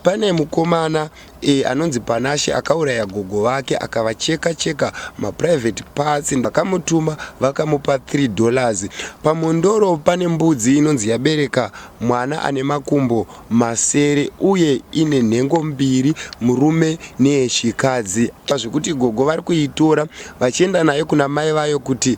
Pane mukomana e, anonzi Panashe akauraya gogo vake akavacheka cheka maprivate parts vakamutuma vakamupa 3 dollars. Pamondoro pane mbudzi inonzi yabereka mwana ane makumbo masere uye ine nhengo mbiri murume neyechikadzi zvekuti gogo vari kuitora vachienda nayo kuna mai vayo kuti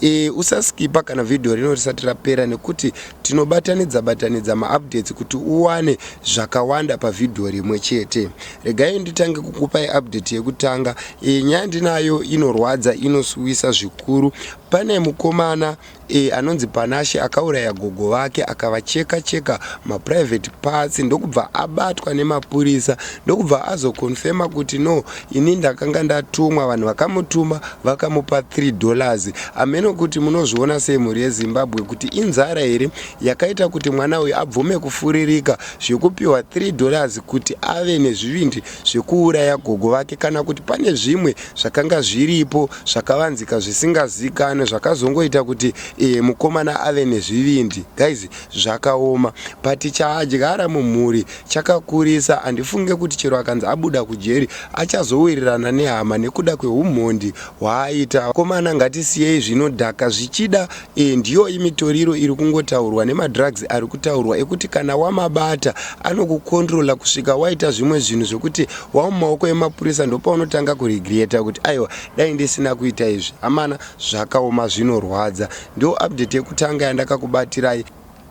E, usaskipa kana vhidhiyo rino risati rapera nekuti tinobatanidza batanidza maupdates kuti uwane zvakawanda pavhidhiyo rimwe chete regai nditange kukupai update yekutanga e, nyaya ndinayo inorwadza inosuwisa zvikuru pane mukomana e, anonzi panashe akauraya gogo vake akavacheka cheka maprivate parts ndokubva abatwa nemapurisa ndokubva azokonfema kuti no Ini ndakanga ndatumwa vanhu vakamutuma vakamupa 3 dollars ameno kuti munozviona sei mhuri yezimbabwe kuti inzara here yakaita kuti mwana uyu abvume kufuririka zvekupiwa 3 dollars kuti ave nezvivindi zvekuuraya gogo vake kana kuti pane zvimwe zvakanga zviripo zvakavanzika zvisingazikanwe zvakazongoita kuti e, mukomana ave nezvivindi guys zvakaoma but chaadyara mumhuri chakakurisa handifunge kuti chero akanzi abuda kujeri achazowirirana nehama nekuda kwehumhondi hwaaita komana ngatisiyei zvinodhaka zvichida e, ndiyo imitoriro iri kungotaurwa nemadrugs ari kutaurwa ekuti kana wamabata anokukondrola kusvika waita zvimwe zvinhu zvekuti wamumaoko emapurisa ndopaunotanga kuregreta kuti aiwa dai ndisina kuita izvi amana zvakaoma zvinorwadza ndiyo update yekutanga yandakakubatirai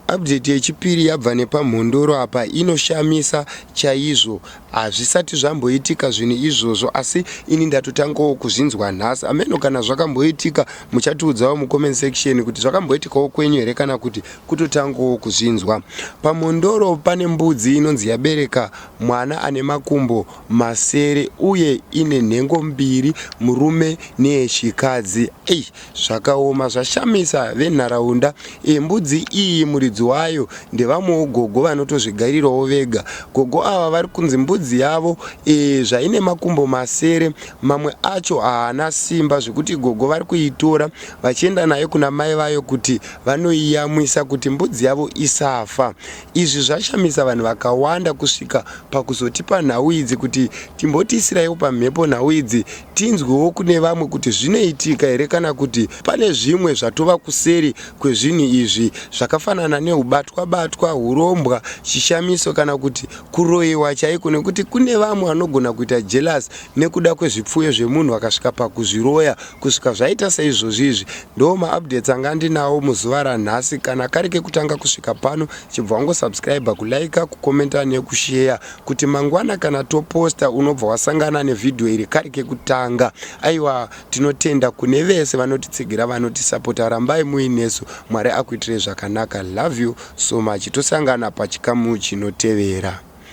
Update yechipiri yabva nepamhondoro apa inoshamisa chaizvo hazvisati zvamboitika zvinhu izvozvo asi ini ndatotangawo kuzvinzwa nhasi ameno kana zvakamboitika muchatiudzawo mucomment section kuti zvakamboitikawo kwenyu here kana kuti kutotangawo kuzvinzwa pamhondoro pane mbudzi inonzi yabereka mwana ane makumbo masere uye ine nhengo mbiri murume neyechikadzi ei Zvakaoma zvashamisa venharaunda iyi mbudzi iyi muridzi wayo ndevamwewo gogo vanotozvigarirawo vega. Gogo ava vari kunzi mbudzi yavo iyi zvaine makumbo masere mamwe acho haana simba zvekuti gogo vari kuitora vachienda nayo kuna mai vayo kuti vanoiyamwisa kuti mbudzi yavo isafa. Izvi zvashamisa vanhu vakawanda kusvika pakuzotipa nhau idzi kuti timbotiisiraiwo pamhepo nhau idzi tinzwewo kune vamwe kuti zvinoitika here kana kuti pane zvimwe zvatova kuseri kwezvinhu izvi zvakafanana neubatwa-batwa, hurombwa, chishamiso kana kuti kuroiwa chaiko nekuti kune vamwe vanogona kuita jealous nekuda kwezvipfuyo zvemunhu vakasvika pakuzviroya kusvika zvaita seizvozvi izvi. Ndoo maupdates anga ndinawo muzuva ranhasi. Kana kari kekutanga kusvika pano chibva wangosubscriber, kuliker, kucommenta nekusheya kuti mangwana kana toposta unobva wasangana nevhidhiyo iri kari kekutanga aiwa tinotenda kune vese vanotitsigira vanotisapota rambai muinesu mwari akuitirei zvakanaka love you so much tosangana pachikamu chinotevera